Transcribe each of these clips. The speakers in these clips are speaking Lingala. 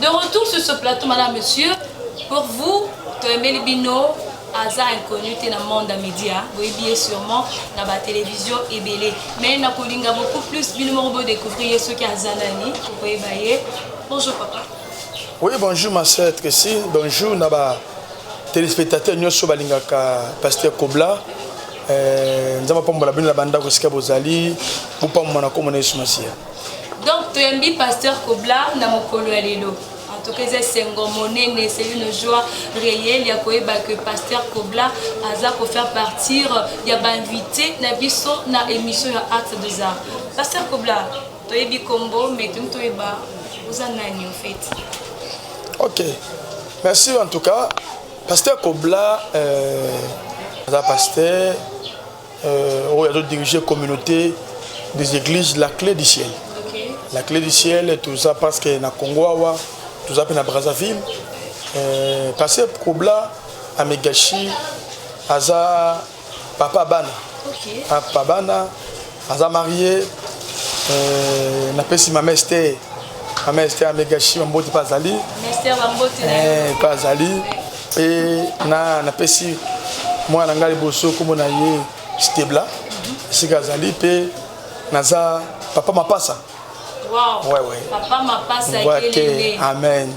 De retour sur ce plateau, madame, monsieur, pour vous, Toemeli Bino, aza inconnu te na monde ya média boyebi ye sûrement na batélévision ebele mais nakolinga beaucoup plus bino moko bodécouvrir ye soki aza nani okoyeba ye bonjour papa oui bonjour ma sœur tracy bonjour na ba téléspectateur nyonso balingaka pasteur kobla eh, nzambe apambola bino na bandako esika bozali bopambola na komona yesu masiya Donc toyambi pasteur Kobla na mokolo ya lelo. En tout cas, eza esengo monene, c'est une joie réelle ya koyeba que pasteur Kobla aza ko faire partir ya ba invité na biso na émission ya Acte des Arts. Pasteur Kobla, toyebi kombo mais tumi toyeba oza nani en fait. OK. Merci en tout cas. Pasteur Kobla euh, aza pasteur euh, oyo azo diriger communauté des églises la clé du ciel okay. la clé du ciel toza parce que na congo awa toza mpe na brazzaville euh, parce que kobla amegashi aza papa bana okay. papa bana aza marie euh, napesi mames te mames te amegashi bamboti mpe azali mpe azali mpe na napesi mwana na ngai liboso nkombo na ye stebla esika azali mpe naza papa mapasa Wow. Ouais, ouais. Papa mapasa ouais, okay. Amen.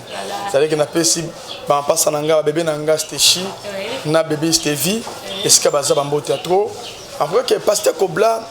C'est-à-dire que napesi ba mapasa na nga, ba bébé na nga Stechi, ouais. na bébé Stevi, ouais. esika baza ba mbote ya trop. Après que pasteur Kobla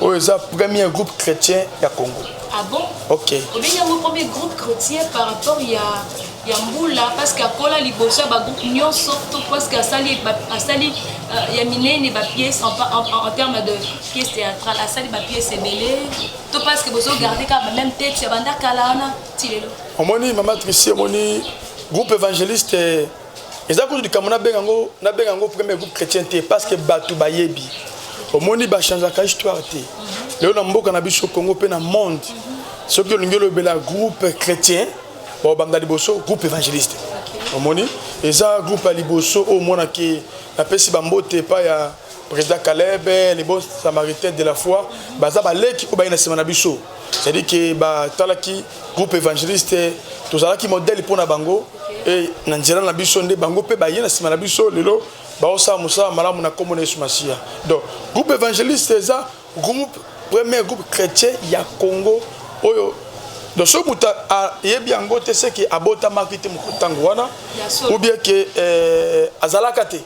oyo eza premier groupe chrétien ya congo ah bon ok obengi yango premier groupe chrétien par rapport ya ya mbula parce que akola liboso ya bagroupe nyonso to parce que asali asali euh, ya minene bapièce en, en, en, en terme de pièce théâtrale asali bapièce ebele to parce que bozo garde kaka bameme tete ya banda kala wana ti lelo omoni mama trici omoni groupe évangéliste eza kutu likambo nabenga yango nabenga yango premier groupe chrétien te parce que bato bayebi omoni bachangeaka histoire te lelo na mboka na biso congo mpe na monde soki olingi olobela groupe chrétien baobanda liboso groupe évangéliste omoni eza groupe ya liboso oyo omonaki napesi bambote epai ya President Caleb, les bons samaritains de la foi, baza ba leki oyo baye na sima na biso. C'est-à-dire que ba talaki groupe évangéliste, tozalaki modèle pona bango et na nzela na biso nde bango pe baye na sima na biso lelo baosala mosala malamu na kombo na Yesu Masiya. Donc groupe évangéliste eza groupe premier groupe chrétien ya Congo oyo donc soki moto ayebi yango te seke abotamaki te ntango wana ou bien ke eh, azalaka te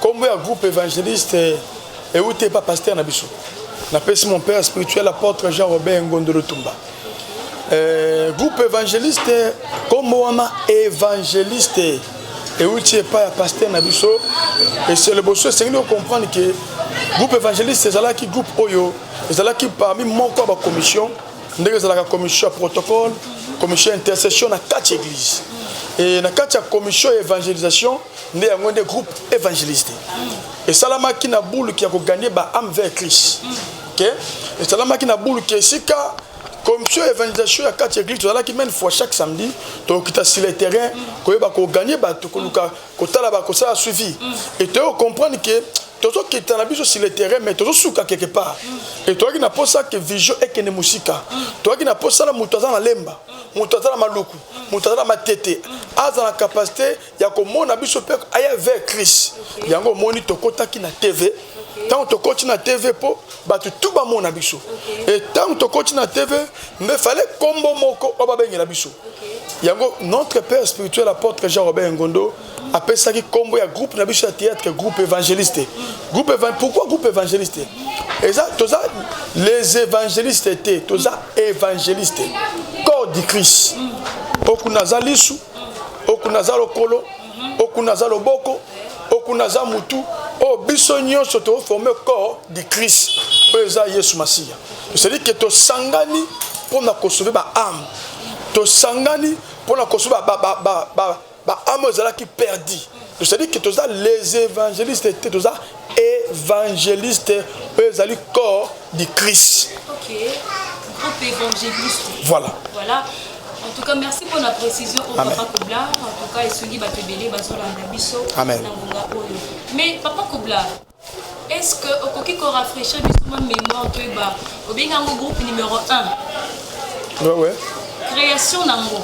Kombo ya groupe evangeliste euti epa pasteur na biso. Napesi mon père spirituel apôtre Jean Robert Ngondo Lutumba. Euh, groupe evangeliste kombo wana evangeliste euti epai ya pasteur na biso ese liboso esengeli kocomprendre ke groupe evangeliste ezalaki groupe oyo ezalaki parmi moko ya bacommission ndenge ezalaka commission ya protocole commission ya intercession na kati ya église e na kati ya commission ya evangelisation nde yango nde groupe evangeliste esalamaki na buluki ya koganye ba ame vers christ ke esalamaki na buluki esika commission evangelisation ya kati ya église tozalaki mene fois chaque samedi tokokita sur le terrain koyeba koganye bato koluka kotala bakosala suivi e toyei kocomprendre ke tozokita na biso sur le terrain mais tozosuka quelque part e toyaki na mposa ke vision ekende mosika toyaki na mposa na moto aza na lemba moto aza na maluku moto aza na matete aza na capacité ya komona biso mpe aya vers crise okay. yango omoni tokotaki na tv okay. ntango tokoti na tv mpo bato tu bamona biso okay. e ntango tokoti na tv mbe fale nkombo moko oyo babengela biso okay. yango notre père spirituel apôtre jean robert ngondo apesaki nkombo ya groupe na biso ya théâtre groupe évangéliste groupe evan... pourquoi groupe évangéliste eza toza les évangélistes te toza évangéliste corps du christ okuna aza lisu okuna aza lokolo okuna aza loboko okuna aza mutu oyo biso nyonso toforme corps du christ oyo eza yesu masiya cestadi ke tosangani mpo na kosove baame tosangani mpo na kosove baame oyo ezalaki perdi cestadi ke toza les évangéliste te toza évangéliste oyo ezali corps de Christ. Ok, groupe évangéliste. Voilà. Voilà. En tout cas, merci pour la précision au Amen. Papa Kobla. En tout cas, Essouli Batebele, Bazola Ndabiso, Nangonga Oyo. Mais Papa Kobla, est-ce que okoki ko rafraîchir biso ma mémoire to eba obenga ngo groupe numéro 1 ouais ouais création nango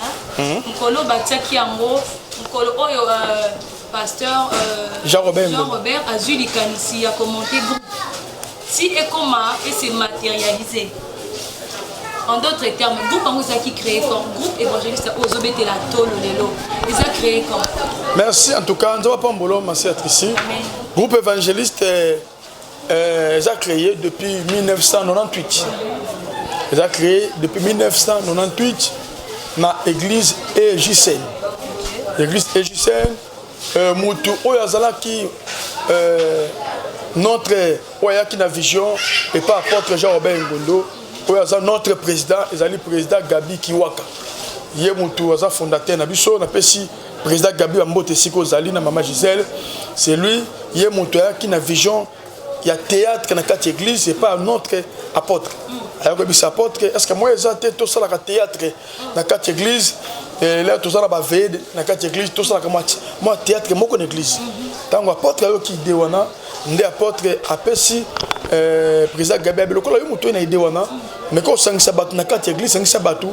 hein? mm -hmm. mokolo batiaki yango mokolo oyo euh, Pasteur euh, Jean Robert, Jean Robert azui likanisi ya commenter groupe. Si ekoma et se matérialiser. En d'autres termes, groupe yango ezalaki créé quand groupe évangéliste oyo ozobetela tolo lelo eza créé quand Merci en tout cas nzambe apambolo masi atrisi groupe évangéliste Euh, eza cree depuis 1998 eza cree depuis 1998 na église egicene église egicene euh, mutu oyo azalaki euh, notre oyo ayaki na vision epa apôtre jean robert ngondo oyo aza notre président ezali président gabi kiwaka ye mutu aza fondateur na biso napesi Président Gabi wa mbote siko ozali na mama Gisèle, c'est lui ye moto ayaki na vision ya théâtre na kati église et pas notre apôtre. Ayako bisa apôtre, est-ce que moi eza te to sala ka théâtre na kati église et là to sala ba veille na kati église to sala ka moi moi théâtre moko na église. Tango apôtre ayo ki de wana nde apôtre apesi euh, président Gabi Abelokolo yo moto na idée wana meka osangisa bato na kati ya eglise sangisa bato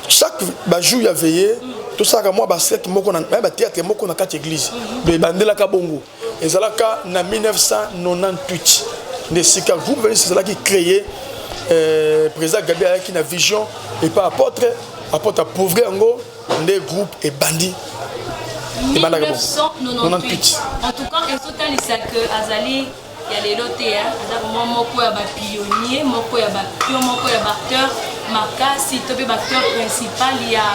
chaque bajour ya veille tosalaka mwa basete moko na bateatre moko na kati ya eglise donc ebandelaka bongo ezalaka na 1998 nde esika groupe venise ezalaki créé euh, président gabi ayaki na vision epa apôtre apôtre apauvre yango nde groupe ebandi ebandaka bongo 98 en tout cas ezotalisa que azali ya lelo te hein. aza vraiment moko ya ba pionnier moko ya ba pion moko ya ba acteur makasi to mpe ba acteur principal ya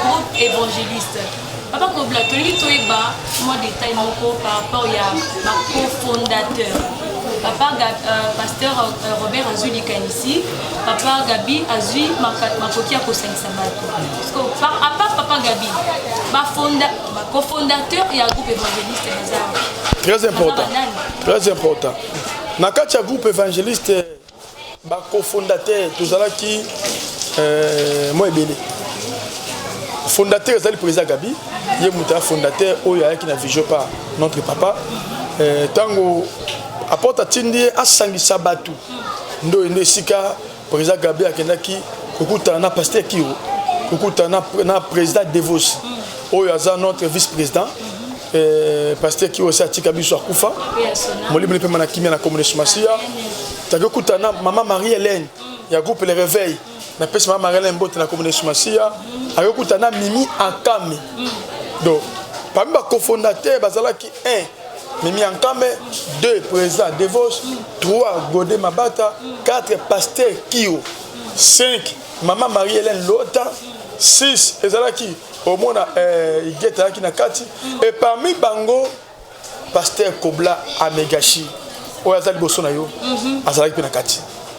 groupe évangéliste papa kobla tolingi toyeba mwa détail moko par rapport ya ba cofondateur papa Gab, euh, pasteur euh, robert azwi likanisi papa gabi azwi makoki ya kosangisa bato apart papa gabi bafonda Ba cofondateurs ya groupe évangéliste baza wapi? Très important. Très important. Na kati ya groupe évangéliste ba cofondateurs tozalaki euh, moi ebele fondateur ezali président gabi ye moto ya fondateur oyo ayaki na vision par notre papa ntango euh, aporte atindi ye asangisa bato ndoye nde esika President Gabi akendaki kokutana na Pasteur Kiro, kokutana na President Devos oyo aza notre vice-president eh, Pasteur Kiro esi atika biso akufa molimo lipema na kimia na komunesu masiya taki okutana na mama Marie Helène ya groupe Le Réveil napesi mama Marie Helène mbote na komunesu masiya akokutana na Mimi Akami donc parmi bacofondateur bazalaki 1 Mimi Ankame, 2 président Devosh, 3 Gode Mabata, 4 pasteur Kio, 5 maman Marie-Hélène Lota, 6 ezalaki omona eh, Igeta yaki na kati et parmi bango pasteur Kobla Amegashi oyo aza liboso na yo mhm. azalaki mpe na kati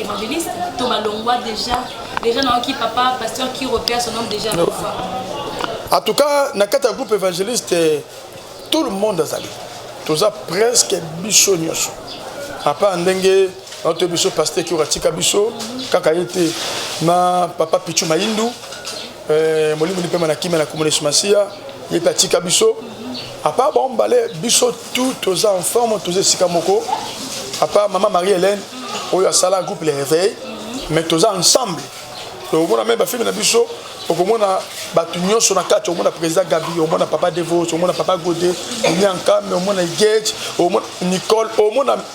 Evangeliste, to balongwa déjà. Déjà na ki papa pasteur qui repère son nom déjà. No. En tout cas, na kata groupe évangéliste tout le monde azali. Toza presque biso nyoso. Papa ndenge oto biso pasteur qui ratika biso kaka yete na papa Pichu Maindu Eh, molimo lipema na kimia na kombo na yesu masiya ye mpe atika biso apart bango mibale biso tout toza en forme toza esika moko apart mama marie hélène oyo asala groupe le réveil mais toza ensemble tokomona meme bafilme na biso okomona bato nyonso na kati omona président gabi omona papa devos omona papa gode onyanka me omona igage omona nicole omona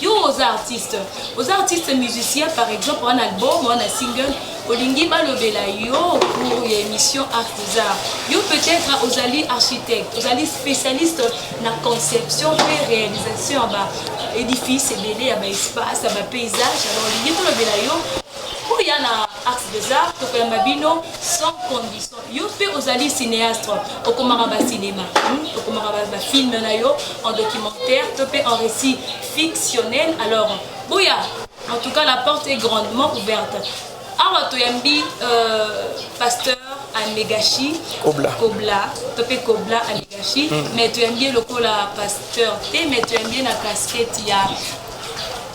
Yo oza artiste, oza artiste musicien par exemple wana album wana single olingi balobela yo pour ya émission art des arts yo peut-être ozali architecte ozali spécialiste na conception mpe réalisation ya ba édifice ebele ya ba espace ya ba paysage alors olingi tolobela yo oya na art des arts tokoyamba bino sans condition Yo pe ozali cineastre, okomaka ba cinema, hmm? okomaka ba, ba film na yo en documentaire to pe en récit fictionnel. Alors, boya, en tout cas la porte est grandement ouverte. Awa toyambi euh, pasteur anegashi kobla, kobla to mpe kobla anegashi mm. mais toyambi ye lokola pasteur te mais toyambi ye na casquette ya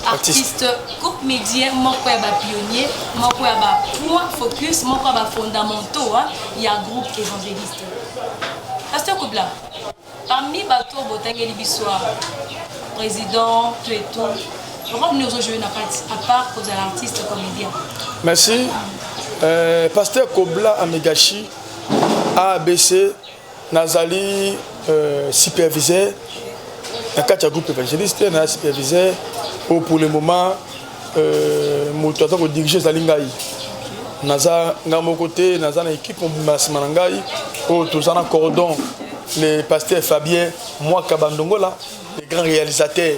artiste groupe média moko ya ba pionnier moko ya ba point focus moko ya ba fondamentaux ya groupe évangéliste pasteur kobla parmi bato oyo botangeli biso président to eto role nini ozojoue na kati à part kozala artiste comédien merci euh, pasteur kobla amegashi abc Nazali euh, superviseur na kati ya groupe évangéliste na superviseur oyo oh, pour le moment euh, moto aza kodirige ezali ngai naza ngai moko te naza na équipe mobimba nsima na ngai oyo oh, toza na cordon le pasteur fabien mwaka bandongola le grand réalisateur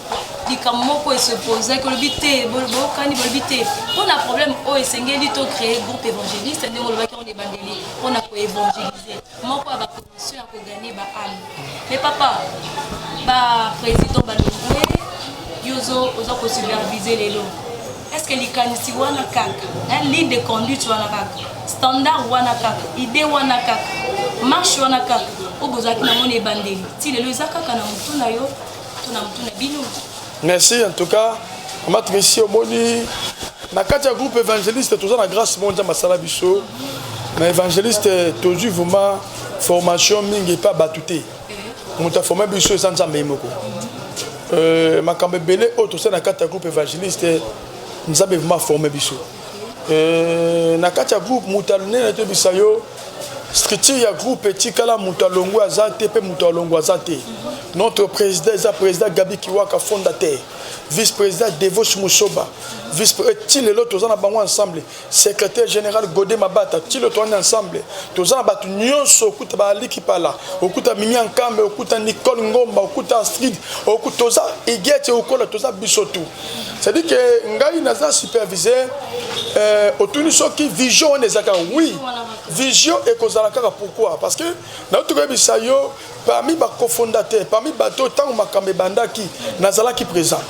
likambo moko esepozaki olobi te boyokani bolobi te mpo na problème oyo esengeli to créer groupe évangéliste ndenge olobaki yango na ebandeli mpo na koévangélise moko ya bacondition ya kogane baame me papa baprésident balongwe yo oza kosupervise lelo estce likanisi wana kaka ligne de conduite wana kaka standard wana kaka idée wana kaka marche wana kaka oyo bozalaki nango na ebandeli ti lelo eza kaka na motu na yo merci en tout cas mama trisi omoni na kati ya groupe évangéliste toza na grâce moko nzambe asala biso na évangéliste tozwi vraiment formation mingi epa bato te moto aforme biso eza nzambe ye moko euh, makambo ebele oyo tosali na kati ya groupe évangéliste nzambe vraiment aforme biso Euh, na kati ya groupe moto alonene toyebisa yo structure ya groupe etikala moto alongwe aza te mpe moto alongwe aza te notre président eza président gabi kiwaka fondateur vice président devos musoba vice eh, ti lelo toza na bango ensemble secrétaire général gode mabata ti lelo toani ensemble toza na bato nyonso okuta baaliki pala okuta mimi ankambe okuta nicole ngomba okuta astrid okuta toza igete okola toza biso tout cest dit que ngai naza superviseur euh, otuni soki vision wana eza kaka oui vision ekozala kaka pourquoi parce que nauti koyebisa yo parmi bacofondateur parmi bato oyo ntango makambo ebandaki nazalaki présent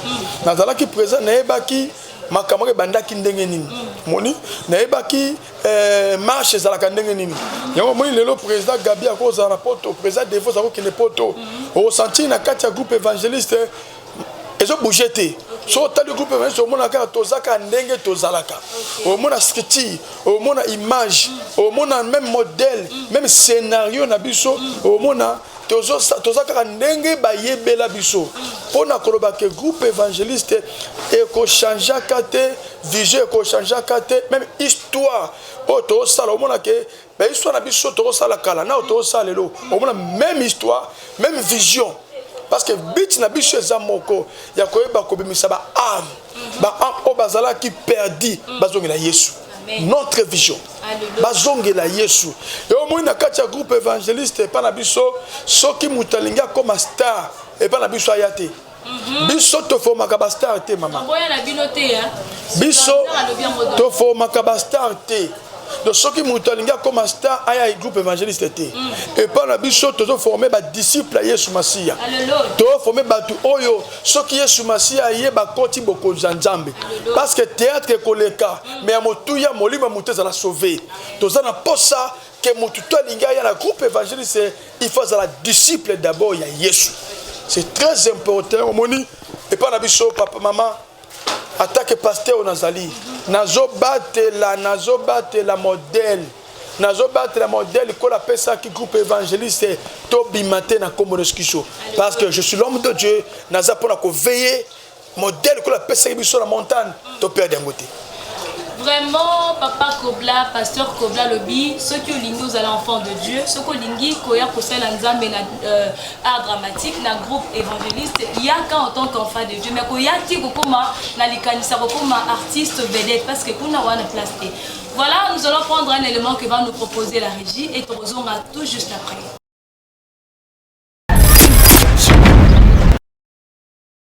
nazalaki présent nayebaki makambo ebandaki ndenge nini moni nayebaki eh, marche ezalaka ndenge nini yango omoni lelo président gabi akozala na poto président defos akokende poto okosentir na kati ya groupe évangéliste ezo bouger te so otali groupe evangeliste omona kaka toza kaka ndenge tozalaka omona structure omona image omona même modèle même scénario na biso omona toza kaka ndenge bayebela biso mpo na koloba ke groupe évangéliste ekochangeaka te vision ekochangeaka te même histoire oyo tozosala omona ke ba histoire na biso tokosala kala nao tokosala lelo omona même histoire même vision parce que but na biso eza moko ya koyeba kobimisa ba ame mhm. ba ame oyo bazalaki perdi mhm. bazongela yesu notre vision bazongela yesu e omoni na kati ya groupe évangéliste epai na biso soki moto alingi akoma star epai na biso aya te Mhm. biso tofomaka bastar te mama biso tofomaka bastar te donc soki moto alingi akoma star aya groupe évangéliste te mm. epai na biso tozoforme badisciple ya yesu masiya toforme bato oyo soki yesu masiya aye bakoti bokonzi ya nzambe parce que théâtre ekoleka mm. mais ya motuya molimo ya moto ezala sauve toza na posa que mutu to alingi aya na groupe évangéliste il faut azala disciple d'abord ya yesu c'est très important omoni epa na biso papa mama atake pasteur oyo nazali nazobatela nazobatela modèle nazobatela modèle kola apesaki groupe évangéliste tobima te na nkombo na yesu kristo parce que je suis l'homme de dieu naza mpo na koveye modèle kolo apesaki biso na montagne to perde yango te vraiment papa kobla pasteur kobla alobi soki olingi ozala enfant de dieu soki olingi koya kosala nzambe na euh, art dramatique na groupe évangéliste yaka en tant qu'enfant de dieu mais koya te kokoma na likanisa kokoma artiste vedette parce que kuna wana place te voilà nous allons prendre un élément que va nous proposer la régie et tokozonga tout juste après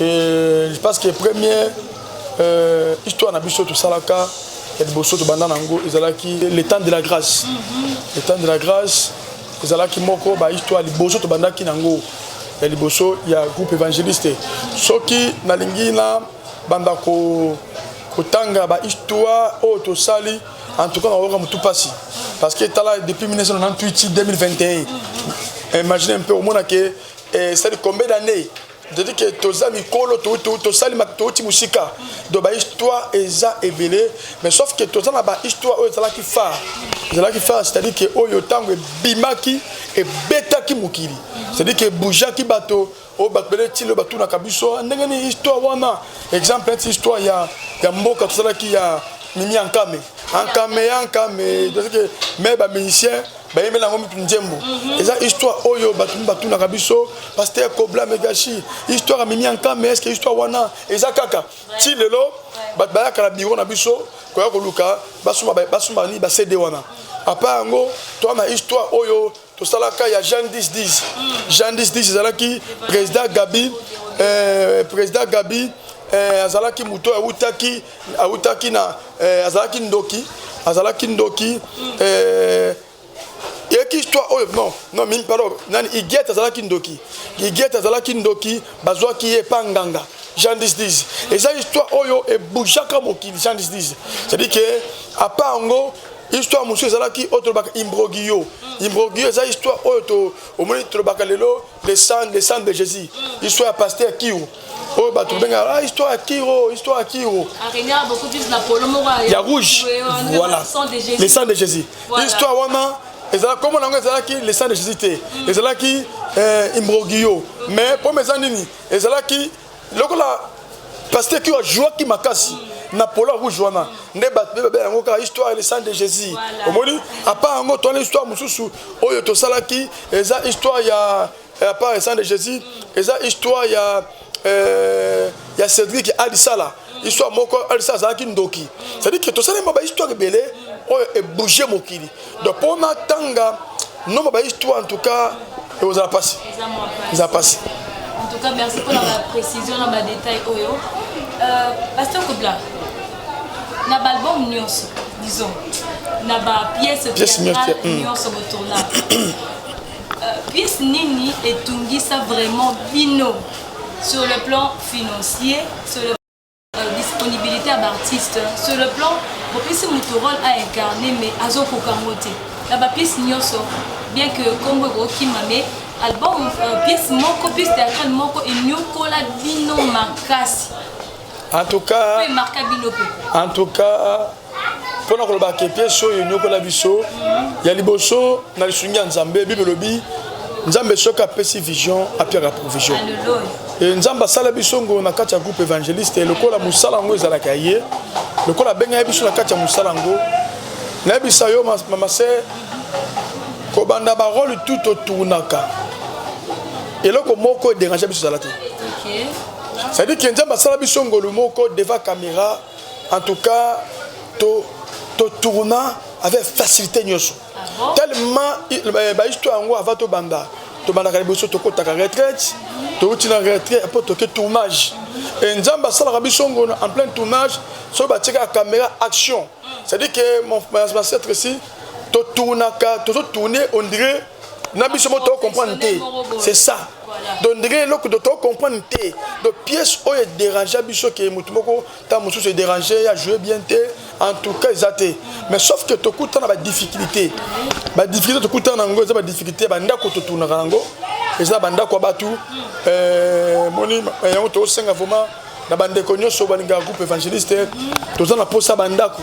Et je pense que premier euh, histoire na biso tosalaka ya liboso tobanda na yango ezalaki le temps de la grâce le temps de la grâce ezalaki moko bahistoire liboso tobandaki na yango ya liboso ya groupe évangéliste soki nalingi na banda kotanga bahistoire oyo tosali en tout cas nakoyoka motu mpasi parce que tala depuis 1998 2021 imagine mpe omona ke eh, c'est combien d'années c'est-à-dire que toza mikolo tosali touti mosika do bahisttoire eza ebele mais sauf que toza na bahisttoire oyo ezalaki phare ezalaki phare c'est-à-dire que oyo ntango ebimaki ebetaki mokili c'est-à-dire que ebougeaki bato oyo bato bele tilo batunaka biso ndenge nini histoire wana exemple neti histoire ya, ya mboka tosalaki ya mimi ankame ankame ankame c'est-à-dire que me bamusicien bayembela yango mitu nzembo mhm. eza histoire oyo bato mi batunaka biso paster kobla megashi histoire amimi ya nkame eske histoire wana eza kaka ti lelo bato bayaka na biro na biso koya koluka basomba nini bacd wana apa yango toa na histoire oyo tosalaka ya jean 1010 mm. jean 1010 ezalaki président gabi euh, président gabi euh, azalaki moto awutaki awutaki na eh, azalaki ndoki azalaki ndoki eh, yeki histoire oyo non non mimi pardon nani igiete azalaki ndoki igiete azalaki ndoki bazwaki ye epa nganga jean disdis eza histoire oyo ebujaka mokili jean disdis cestadire ke apa yango histoire mosusu ezalaki oyo tolobaka imbrogiyo imbrogiyo eza histoire oyo omoni tolobaka lelo le sang le sang de Jésus histoire ya pasteur Kiro oyo bato bengaka ah, histoire ya Kiro histoire ya Kiro ya rouge voilà le sang de Jésus histoire wana ezalaki kombo na yango ezalaki le sang de Jésus te mm. ezalaki eh, imbroglio mais mpo eza nini ezalaki lokola pasteur qui a joué qui m'a cassé na polo rouge wana nde bato mpe babela yango kaka histoire et le sang de jésus omoni apart yango towana histoire mosusu oyo tosalaki eza histoire ya apart le sang de jésus eza histoire ya euh, ya cédric alisala histoire moko alisala azalaki ndoki c'est-à-dire que tosalema bahistoire ebele oyo ebouge mokili donc mpo natanga nomba ba histoire en tout cas ekozala mpasi eza mpasi en tout cas merci mpo na baprécision na badetail oyo euh, pasteur kobla na baalbum nyonso disons na bapièce théâtrale hmm. nyonso botourna euh, pièce nini etungisa vraiment bino sur le plan financier sur le euh, disponibilité ya baartiste sur le plan bopesi moto role a incarne mais azokoka yango te na bapiece nyonso bien que nkombo ekokima mais album euh, piece moko piece théâtrale moko eniokola bino makasi en tout cas en tout cas mpo na koloba ke piese oyo enyokola biso ya liboso na lisungi ya nzambe bible elobi nzambe soki apesi vision apiaka provision e nzambe asala biso ngo na kati ya groupe évangéliste lokola mosala yango ezalaka ya ye lokola abengaki biso na kati ya mosala yango nayebisa yo mama se kobanda barole tout otournaka eloko moko ederange biso ezala te cestadire ke nzambe asala biso ngolu moko devant caméra en tout cas to to tourna avec facilité nyoso ah tellement eh, ba histoire yango avant to banda to banda kali boso to kotaka retraite to uti na retraite après to ke tournage et nzamba asalaka biso ngono en plein tournage so ba tika caméra action c'est à dire que mon ancêtre ici to tournaka to tourner on dirait na biso mo tocomprendre te c'est ça donc ndenge eloko do tocomprendre te donc pièce oyo edérangea biso ke motu moko ntango mosusu edérange ye ajoue bien te en tout cas eza te mais sauf que tokuta na badifficulté badifficulté tokuta na yango eza badifficulté ya bandako totunaka yango eza na bandako ya bato euh, moni yango tosenga vraiment na bandeko nyonso balingaka groupe évangéliste toza na mposa bandako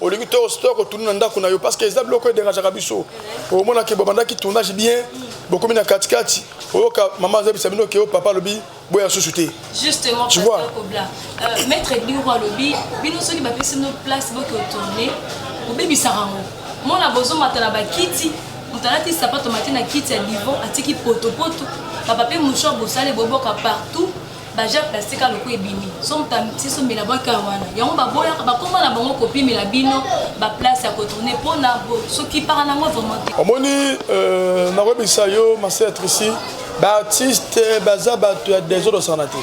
olingi to store ko tourner na ndako na yo parce que eza biloko e dérangeaka biso omona ke babandaki tournage bien bokomi na katikati oyoka mama azabisa bino ke o papa alobi boya susu te justement tu vois euh, maître diro alobi bino soki bapesi no place boke otourne obebisaka yango mona bozomata na bakiti moto alati sapato mati na kiti ya divo atiki potopoto papa mpe mouchoir bosale boboka partout baja plastique aloko ebimi so moto amitiso mela bwaka wana yango baboyaka bakoma na bango kopimela bino baplace ya kotourne mpo na soki para na yango vraiment te omoni euh, nakoyebisa yo maseatrici baartiste baza bato ya desordre sana te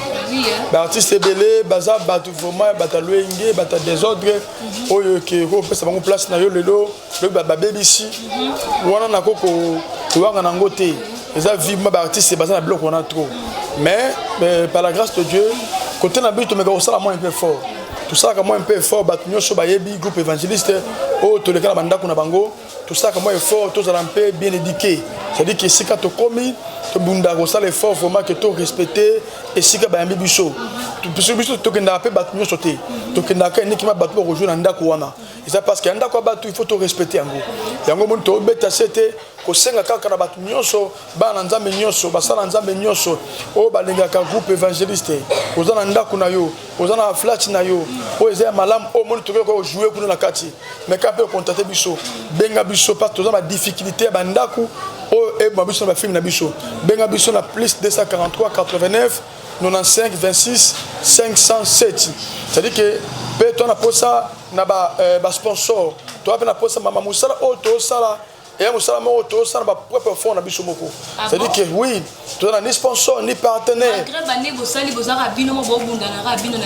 baartiste ebele baza bato vraiment bato ya loyenge bato ya desordre mhm. oyo ke kopesa bango place na yo lelo lobi babebisi wana nako koyanga nango te eza vivement baartiste baza na biloko wana trop mais euh, par la grâce de dieu kote na biso tomeka kosala mwa un peu fort tosalaka mwa un peu fort bato nyonso bayebi groupe évangéliste oyo toleka na bandako na bango tosalaka mwa effort tozala mpe bien édiqué c'est-à-dire que esika tokomi tobundaka kosala effort vraiment ke to respecte esika bayambi biso biso tokendaka mpe bato nyonso te tokendaka enikima bato bakozwa na ndako wana eza parce que ya ndako ya bato il faut torespecte yango yango moni tobeta se te kosenga kaka na bato nyonso bana nzambe nyonso basala nzambe nyonso oyo balingaka groupe évangéliste oza na ndako na yo oza na flat na yo oyo eza ya malamu oyo moni tokoki kaka ojoue kuna na kati mais kaka mpe okontate biso benga biso parce toza na difficulté ya bandako oyo eboma biso na bafilme na biso benga biso na plus 243 89 95 26 507 c'est-à-dire que mpe to na mposa na basponsor ba euh, toa mpe na mposa mama mosala oyo tosala eya mosala moko tosala ba propre fond na biso moko ah c'est-à-dire que oui toza na ni sponsor ni partenaire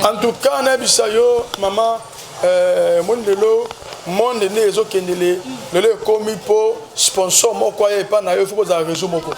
en tout cas nayebisa yo mama Eh, moni lelo monde nde ezokende le lelo ekomi mpo sponsor moko aya epai na yo fo kozala réseau moko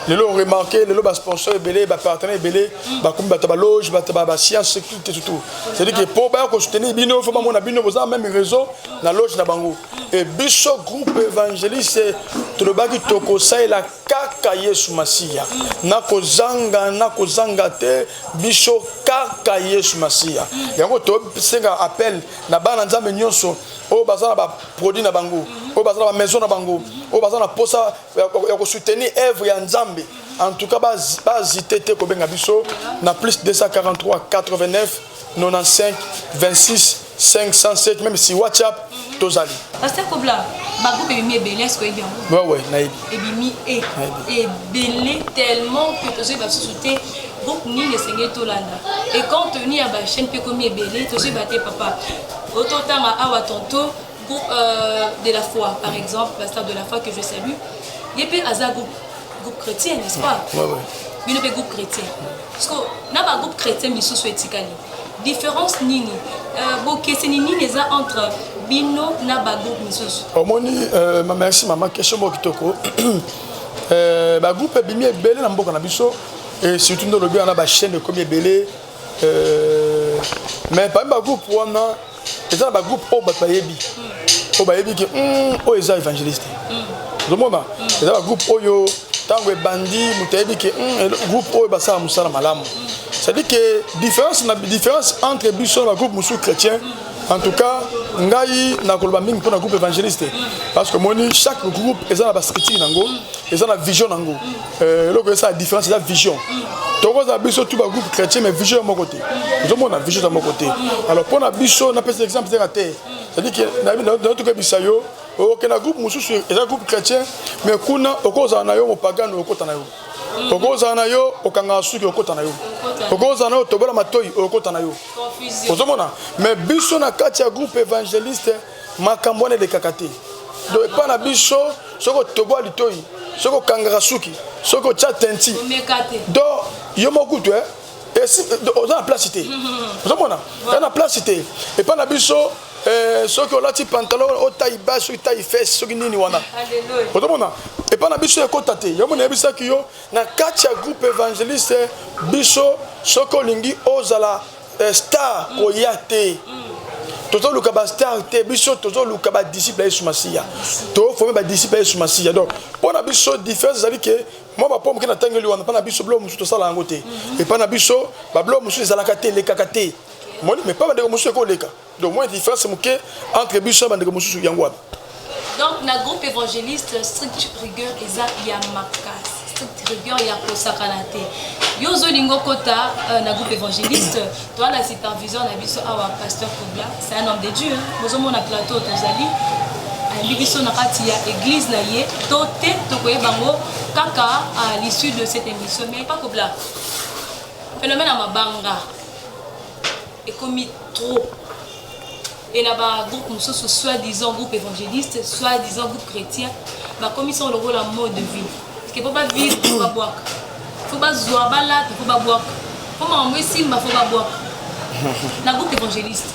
lelo oremarke lelo basponsor ebele bapartenaire ebele bakomi bato ya baloge bato ya bascience sécurité surtout cetadire ke mpo baya kosoutenir bino fo bamona bino boza meme réseau na loge na bango e biso groupe évangéliste tolobaki tokosalela kaka yesu masiya na kozanga na kozanga te biso kaka yesu masiya yango tosenga appel na bana nzambe nyonso oyo baza na baproduit na bango oyo baza na bamaison na bango oyo baza na mposa ya kosoutenir œuvre ya nzambe en tout cas bazite te kobenga biso na plus 243 89 95 26 507 même si WhatsApp mm -hmm. tozali. Pasteur Kobla, ba groupe ebimi ebele est-ce que ebi yango? Ouais ouais, nayebi. Ebimi e ebele tellement que tozo ba susu te groupe nini esengeli tolanda. Et compte tenu ya ba chaîne pe komi ebele tozo ba te papa. Ototanga awa tantôt groupe euh, de la foi par exemple, pasteur de la foi que je salue. Ye pe aza groupe groupe chrétien, n'est-ce pas? Ouais ouais. Bino pe groupe chrétien. Parce que na ba groupe chrétien misusu etikali. Difference nini euh, bokeseni nini eza entre bino na ba groupe misusu? Omoni euh, ma merci mama question moko kitoko euh, ba groupe ebimi ebele na mboka na biso et surtout nde olobi wana ba chaîne ekomi ebele euh, mais parmi ba groupe wana eza na bagroupe oyo bato bayebi oyo bayebi ke hmm, oyo eza évangéliste ozomona hmm. eza bagroupe oyo ntango ebandi moto ayebi ke hmm, groupe oyo basala mosala malamu cestadire ke différence na différence entre biso na bagroupe mosusu chrétien en tout cas ngai nakoloba mingi mpo na groupe évangéliste parce que omoni chaque groupe eza na baskritire na yango eza na vision na yango Euh, eloko esala différence eza vision tokozala biso tu bagroupe chrétien mais vision ya moko te ozomona vision eza moko te alors mpo na biso napesa exemple teka te cetadire ke natukebisa yo oke na groupe mosusu eza groupe chrétien mais kuna okozala na yo mopagano okota na yo okozala na yo okangaka suki okota na yo okozala na yo otobola matoi okota na yo ozomona mais biso na kati ya groupe évangéliste makambo wana elekaka te donc epai na biso soki otoboa litoi soki okangaka suki soki otya tenti donc yo mokutu e oza na place te ozomona oza na place te epai na biso eh, soki olati pantalon otai ba soki tai fes soki nini wana ozomona epai na biso ekota te yango nayebisaki yo na kati ya groupe évangéliste biso soki olingi ozala Euh, star mm. koya te mm. tozoluka bastar te biso tozoluka badisiple ya yesu masiya toforme badisiple ya yesu masiya donc mpo na biso différence ezali ke mwa bapo moke natangeli wana mpo na biso biloko mosusu tosala yango te mm-hmm. epai na biso babiloko mosusu ezalaka te elekaka te moni me mpa bandeko mosusu ekoleka donc moi différence moke entre biso ya bandeko mosusu yango wana donc na groupe évangéliste strict rigueur eza ya makasi strict rigueur ya kosakana te yo ozolinga okota euh, na groupe évangéliste toa na superviseur na biso awa pasteur kobla c'est un homme de dieu bozomona plateau tozali ayambi biso na kati ya église na ye to te tokoyeba yango kaka à l'issue de cette émission mais pas kobla phénomène ya mabanga Ekomi trop. Et na ba groupe mosusu soit disant groupe évangéliste, soit disant groupe chrétien, bakomi sango lokola mode de vie. Ke po ba vivre po ba bwaka. Po ba zwa ba lata po ba bwaka. Po makambo esimba po ba bwaka. Na groupe évangéliste.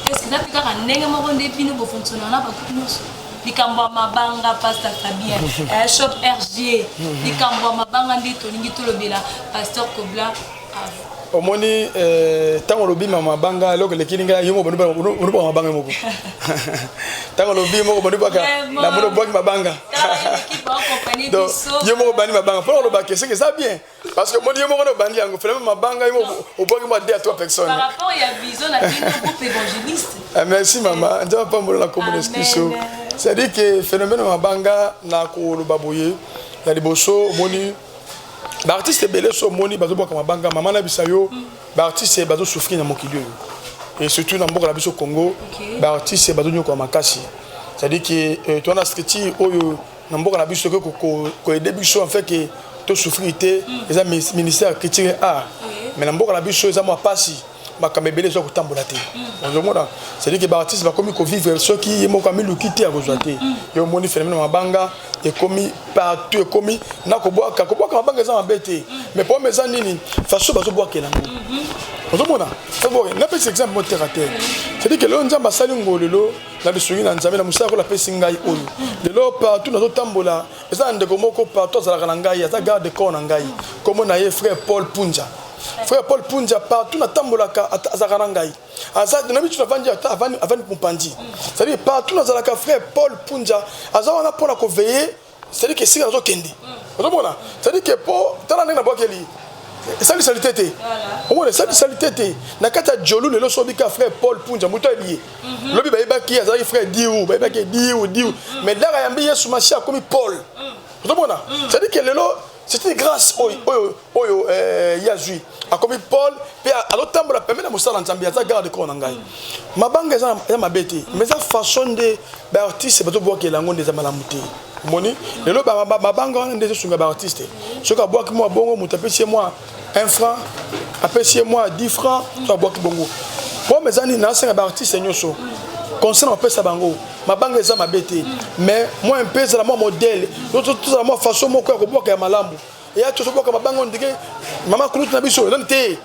Est-ce que eza pe kaka ndenge moko nde bino bo fonctionner na ba groupe nyonso? likambo ya mabanga pasteur fabien eh, shop rg likambo ya mabanga nde tolingi tolobela pasteur kobla omoni ntango eh, olobi mama banga eloko elekili ngai yo moko bonibaka mabanga moko ntango olobi moko bonibaka na moni obwaki mabanga yo moko obandi mabanga mpo oloba ke seke eza bien parce que omoni yo moko na obandi yango finalement mabanga yo moko obwaki mwa de a trois personnes eh, merci mama nzambe apambola na kombo na eskiso c'est-à-dire que phénomène mabanga na koloba boye ya liboso omoni ba artistes ebele so moni bazo boka mabanga mama na bisa yo ba artistes bazo souffrir na mokili oyo et surtout na mboka na biso Congo ba artistes bazo nyoka makasi c'est-à-dire que euh, toi na structure oyo na mboka na biso ko ko aider biso en fait que to souffrir te eza ministère culture et art mais na mboka na biso eza mwa pasi makambo ebele ezwa kotambola te ozomona cedi ke baartiste bakomi kovivre soki ye moko amiluki te akozwa te yo omoni phénomène mabanga ekomi partout ekomi na kobwaka kobwaka mabanga eza mabe te mais problème eza nini façon bazobwakela yango ozomona napesi exemple mo terre à terre cedi ke lelo nzambe asali ngo lelo na lisungi na nzambe na mosala kola apesi ngai oyo lelo partout nazotambola eza na ndeko moko partout azalaka na ngai aza garde corps na ngai nkombo na ye frère paul punja Frère Paul Punja partout na tambolaka azaka na ngai. Aza na mitu na vandi ata avani avani mupandi. C'est-à-dire partout na zalaka frère Paul Punja aza wana pona ko veiller c'est-à-dire que sika nazo kende. Ozomona? C'est-à-dire que po tala ndenge na bwakeli esali salite te omona esali salite te na kati ya jolu lelo so obika frère paul punja moto ayebi ye mhm. lobi bayebaki ye azalaki frère diu bayebaki ye diu diu mhm. mais ndaka yambi yesu masi akomi paul mhm. ozomona cetadire ke lelo c'est une grâce oyo oyo oyo euh, ye azwi akomi paul mpe azotambola pembe na mosala nzambe aza garde corps na ngai mm. mabanga eza mabe te mais eza façon nde baartiste bazobwakela yango nde eza malamu te omoni lelo mabanga wana nde ezosunga baartiste soki abwaki mwa bongo moto apesi ye mwa 1 franc apesi ye mwa 10 franc to abwaki bongo problème eza nini nasenga baartiste nyonso concert opesa bango mabanga eza mabe te mais mwa mpe ezala mwa modele tozala mwa façon moko ya kobwaka ya malamu eya tozobwaka mabanga ndenge mama kulutu na biso elani te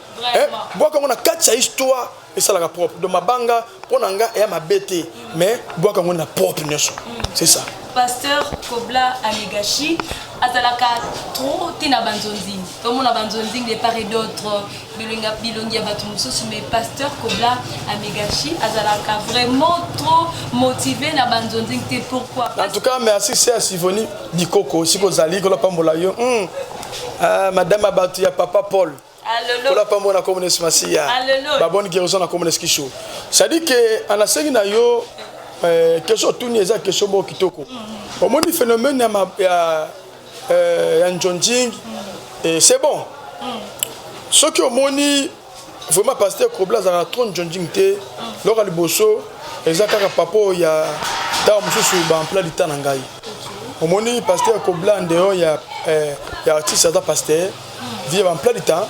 bwaka yango na kati ya histoire esalaka propre donc mabanga mpo na nga eya mabe te mais bwaka yango na propre nyonso c'est ça pasteur kobla amegashi azalaka trop te na banzonzing tomona banzonzing de part et d'autre bilongi ya bato mosusu mais pasteur kobla amegashi azalaka vraiment trop motivé na banzonzing te pourquoi en tout cas merci se ya sivoni bikoko esika ozali kolapambola yo hmm. ah, madame ya bato ya papa paul kola pambo na kombo na yesu masiya babone guérison na kombo na yesu kisu cestadire ke anasengi na yo eh, question otuni eza question moko kitoko mm. omoni phénomène ya eh, ya njonjing eh, c'est bon mm. soki omoni vraiment pasteur kobla azalaka trop njonjing te mm. loka liboso eza kaka papa oyo ya ntango mosusu baempla lita na ngai omoni pasteur kobla ndeo ya, ya artiste aza pasteur via ba emploi du temps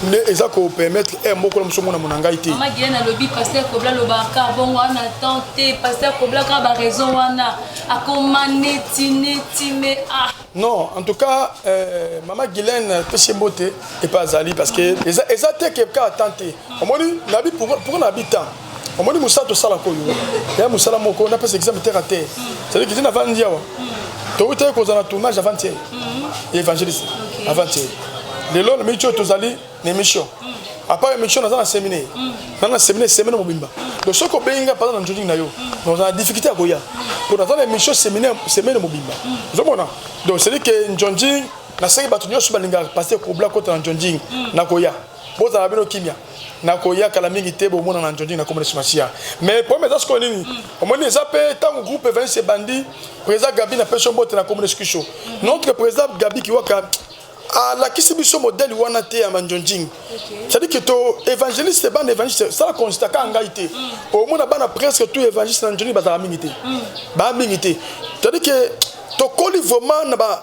nde eza ko permettre heure moko na mosu omona mona ngai te mama diane alobi paster kobla alobaka bongo wana temps te paster kobla kaka baraison wana akoma neti neti me ah non en tout cas euh, mama guilene pesi mbote epa azali parce que eza, eza te ke kaka temps te omoni nabi pourquoi nabi temps omoni mosala tosalaka oyo ya mosala moko napesa exame terre à terre cetadi kiti navandi awa towutaki kozala na tournage avantier ya évangéliste avantier lelo na miki oyo tozali na émission apart émission naza na séminaire na na séminaire semaine mobimba donc soki obengi ngai mpana na njodingi na yo naza na difficulté ya koya mpo naza na émission séminaire semaine mobimba ozomona donc cetadi ke njonding naseki bato nyonso balingaka paster kobla kota na njonding nakoya bozala bino kimia nakoya kala mingi te bomona na njonjingi na komonesi masiya mais problème eza sikoyo nini mm. omoni eza mpe ntango groupe evance ebandi président gabi na peso mbote na komonesi kiso mm. notre président gabi kiwaka alakisi biso modele wana te ya manjonjing cetadi ke to évangéliste bana évangéliste sala constat kaka ngai te mm. omona bana presque tout évangéliste na njoni bazalaka mingi te mm. baa mingi te cetadi ke tokoli vraiment na ba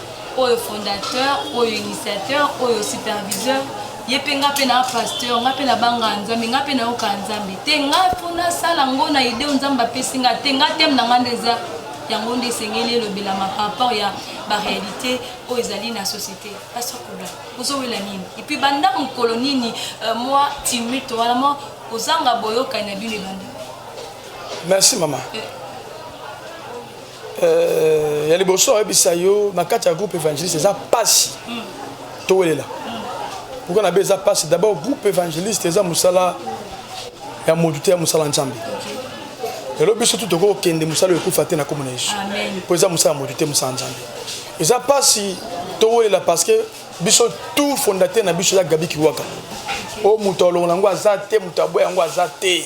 oyo fondateur oyo initiateur oyo superviseur ye mpe nga mpe na pasteur nga mpe nabanga nzambe nga mpe nayoka nzambe te nga mpo nasala ngo na ide oyo nzambe apesi nga te nga teme na nga nde eza yango nde esengeli elobelama par rapport ya baréalité oyo ezali na société pasteur kola ozowela nini epuis banda mokolo nini euh, mwa timute wana mwa kozanga boyokani na bino ebanda merci mama euh, Euh, ya liboso ayebisa yo na kati ya groupe évangéliste eza mpasi towelela pourkui na be eza mpasi d'abord groupe évangéliste eza mosala ya motu te ya mosala nzambe lelo biso tu tokoki kokende mosala oyo ekufa te na komona yesu mpo eza mosala ya motu te mosala nzambe eza mpasi towelela parce que biso tout fondateur na biso eza gabi kiwaka oyo moto alongola yango aza te moto aboya yango aza te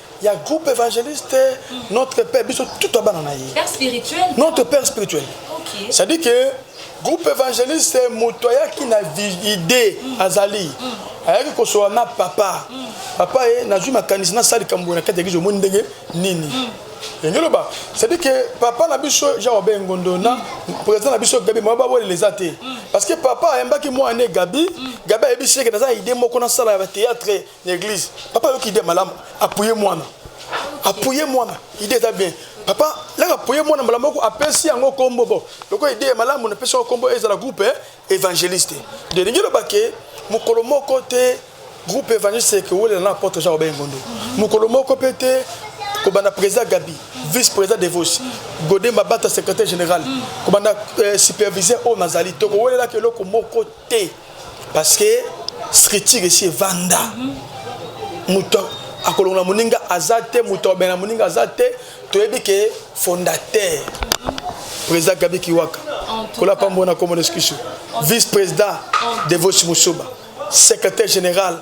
ya groupe évangéliste notre père biso tout ya bana na ye notre père spirituel okay. c'est à dire que groupe évangéliste moto ayaki na idée mm. azali mm. ayaki kosola na papa mm. papa ye nazwi makanisi nasala likambo boye na kati ya eglise omoni ndenge nini mm. elingi loba cetadi ke papa na biso jean obe ngondo na président na biso gabi moya bawelela eza te parce que papa ayambaki mwana ne gabi gabi ayebisi eke naza na idée moko nasala ya batéâtre na eglise papa ayoki ide malamu apuye mwana apuye mwana ide eza bien papa laka apuye mwana mbala moko apesi yango nkombo bo lokola ide ya malamu napesi yango nkombo ezala groupe eh, évangéliste de elingi loba ke mokolo moko te groupe évangéliste ekowelela na apotre jean robert ngondo mokolo moko mpe te kobanda président gabi vice président devos gode mabata secrétaire général kobanda euh, superviseur oyo nazali tokowelelaka eloko moko te parce que scriture esi evanda moto akolongola moninga aza te moto akobengana moninga aza te toyebi ke fondateur président gabi kiwaka kola pambo na komona eskusu vice président devosi mosuba secrétaire général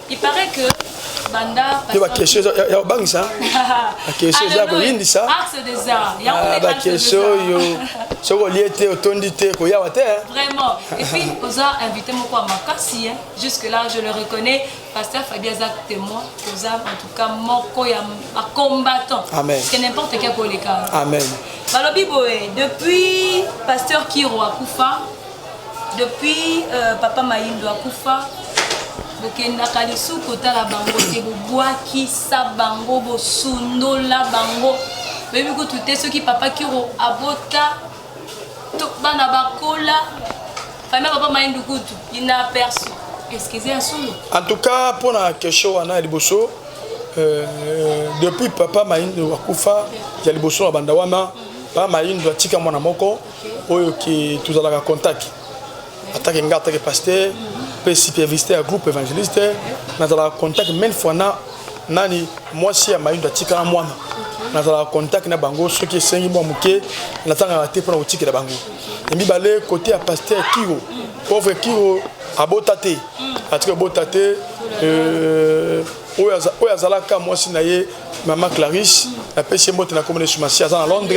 Il paraît que banda te ba question ya obangisa ba question za ko yindisa axe des arts ya ah, ba question yo soko lié te otondi te ko yawa te hein. vraiment et puis oza invité moko à makasi hein jusque là je le reconnais pasteur Fabien Zak témoin oza en tout cas moko ya ba combattant amen parce que n'importe quel koleka amen balobi boye depuis pasteur Kiro akufa Depuis euh, papa Mayindo akufa bokendaka lisusu kotala bango te bobwakisa bango bosundola bango boyebi kutu te soki papa kiro abota to bana bakola famille papa Mayindo kutu inaperçu excuse ya solo en tout cas mpo na question wana ya liboso euh, depuis papa Mayindo akufa ya liboso na banda wana papa Mayindo atika mwana moko oyo ke tozalaka contact atake nga atake pasteur mpe supervisteur ya groupe évangéliste nazalaka contact mene fois na nani mwasi ya mayindo atikala mwana nazalaka contact na bango soki esengi mwa moke natangaka te mpona kotikela bango ya mibale kote ya pasteur kiro pauvre kiro abota te atiki abota te euh, oyo azalaka mwasi na ye Maman Clarisse, la PC Mbote na komone Sumasi aza na Londres,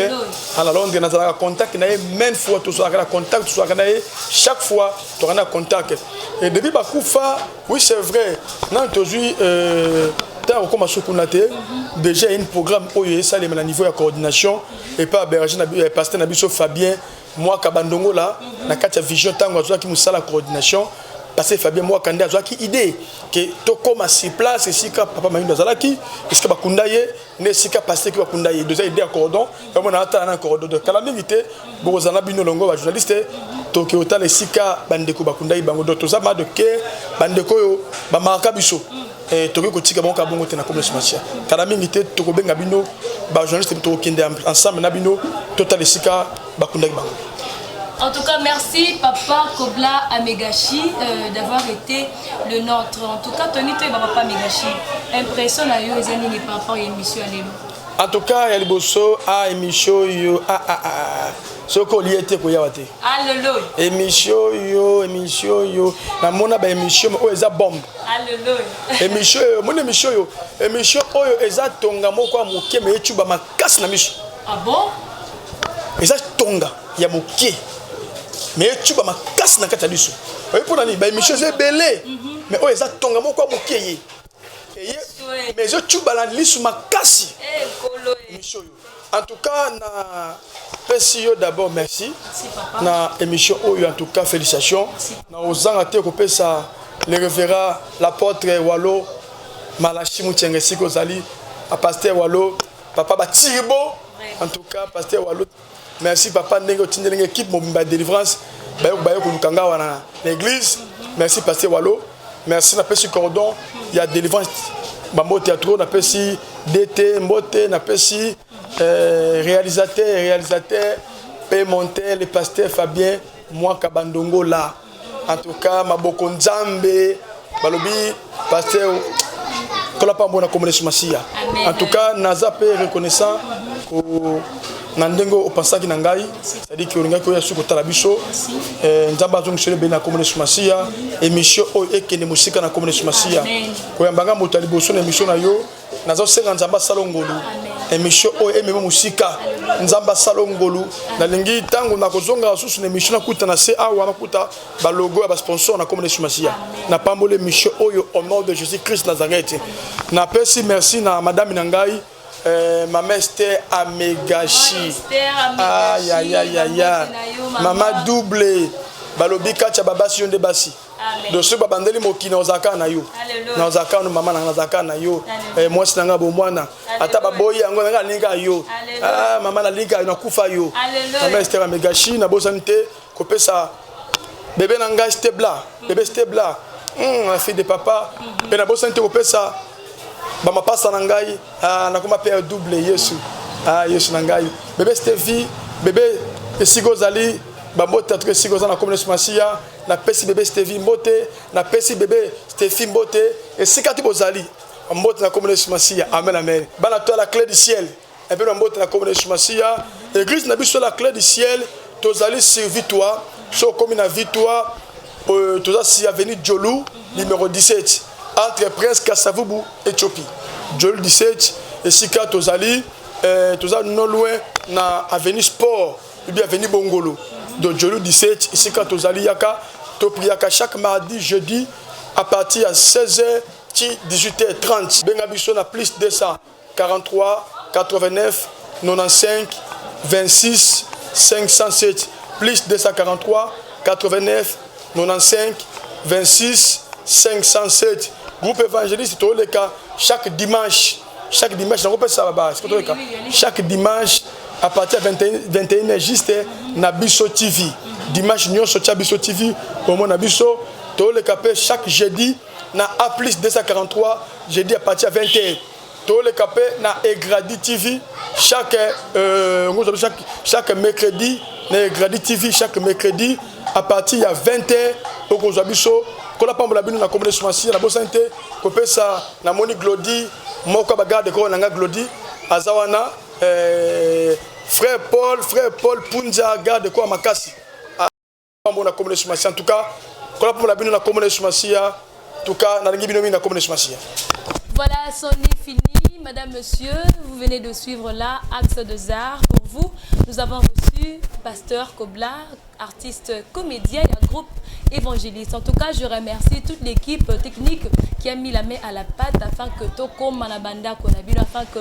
à la Londres na zalaka contact na ye même fois tout soit na contact tout soit na ye chaque fois tu na contact. Et depuis ba kufa, oui c'est vrai, na tozui euh ntango okoma suku na te déjà une programme oyo esalemela niveau ya coordination epa berger na eh, pasteur na biso fabien Mwaka bandongola na kati ya vision ntango azwaki mosala coordination pase Fabien Mwaka nde azwaki idee ke tokoma sur place esika papa Mayindo azalaki esika bakunda ye nde esika pase ki bakunda ye doza idee ya cordon yango na atala na cordon donc kala mingi te bokozala bino longo ba journaliste toke otala esika bandeko bakunda ye bango donc toza ma de ke bandeko oyo bamakaka biso Eh, tokoki kotika bango kaka bongo te na komi smacia kala mingi te tokobenga bino bajournaliste tokokende ensemble na bino totala esika bakundaki bango En tout cas, merci Papa Kobla Amegashi euh, d'avoir été le nôtre. En tout cas, Tony Toy Papa Amegashi, impression na yo eza nini par rapport à l'émission à l'élo En tout cas, ya liboso a ah, émission yo a ah, a ah, a soki olie te koyawa te emission yo emission yo namona ba emission oyo eza bombe emission oyo omoni emission oyo emission oyo eza tonga moko ya moke me ecuba makasi na miso ah eza tonga ya moke me ecuba makasi na kati ya liso oyebi mpo na nini baemission eza ebele mhm. me oyo eza tonga moko ya moke ye eye me ezocuba na liso makasi eh, emission oyo En tout cas, na PCO d'abord merci. Na émission Oyo, en tout cas, félicitations. Na Ozanga te ça le révérend, l'apôtre Walo, Malachi Mouchenge Siko Zali, à pasteur Walo, papa Batiribo. En tout cas, pasteur Walo, merci papa Nengo Tindeling, équipe Mobimba Délivrance, Bayo Bayo Kulukanga, l'église. Merci pasteur Walo. Merci napesi cordon ya délivrance bambote ya trop napesi DT mbote napesi euh, réalisateur réalisateur pe monter le pasteur Fabien mwaka bandongo la en tout cas maboko nzambe balobi pasteur tola pambo na komona masiya en tout cas naza pe reconnaissant ko na ndenge oyo opansaki na ngai cestadi ke olingaki oya su kotala biso eh, nzambe azongiseli ebele na komona yesu masiya emission oyo ekende mosika na komona yesu masiya koyamba ngai moto ya liboso na emission na yo nazosenga nzambe asala ngolu emission oyo emema mosika nzambe asala ngolu nalingi ntango nakozongaka susu na emission nakuta na se awa nakuta balogo ya basponsor na komona yesu masiya napamboli emission oyo au nom de jésus christ nazareth napesi merci na madame na ngai Eh, mama Esther amegashi ayayayaya mama double balobi katya babasi yo nde basi doso babandeli mokili na ozalaka na yo na ozalaka no mama nanga nazalaka na yo eh, mwasi na ngai bomwana ata baboyi yango nanga nalinga yo ah, mama nalinga yo nakufa yo mama Esther amegashi nabosani te kopesa bebe na ngai stebla bebe stebla hmm, la fille de papa mpe nabosani te kopesa bamapasa na ngai ah, nakoma mpe double yesu ah, yesu na ngai bebe stevi bebe esika ozali bambote atuka esika oza na komi nesu masiya napesi bebe stevi mbote napesi bebe stefi mbote esika ti bozali mbote na komi nesu masiya amen amen bana to ya la clé du ciel Ebele ya mbote na kombo na Yesu Masiya. Eglise na biso la clé du ciel tozali sur Vitoire so okomi na Vitoire euh, toza si avenue Jolu numéro 17 entre Prince Kasavubu Ethiopie Jolu 17 esika tozali euh, toza no loin na avenue Sport ou bien avenue Bongolo de Jolu 17 esika tozali yaka to priaka chaque mardi jeudi à partir ya 16h ti 18h30 benga biso na plus 200 Groupe évangéliste toleka chaque dimanche chaque dimanche nakopesa baba siko toleka chaque dimanche à partir ya 21 heures juste na biso tv dimanche nyonso tya biso tv omona biso toleka mpe chaque jeudi na A plus 243 jeudi à partir ya 20h toleka mpe na egradi tv chaque euh, ngozobi chaque, chaque mercredi na egradi tv chaque mercredi à partir ya 20h okozwa biso kola pambola bino na komona esumasi na bosani te kopesa namoni glodi moko ya bagarde koko na ngai glodi aza wana euh, frère paul frère paul punza garde koko ya makasi Pambo na kombo na Yesu Masiya. En tout cas, kola pambo na bino na kombo na Yesu Masiya. En tout cas, nalingi bino mingi na kombo na Yesu Masiya. Voilà, son est fini. Madame, Monsieur, vous venez de suivre là Axe de Arts pour vous. Nous avons reçu Pasteur Kobla, artiste comédien et un groupe évangéliste. En tout cas, je remercie toute l'équipe technique qui a mis la main à la pâte afin que Toko Manabanda Konabino, afin que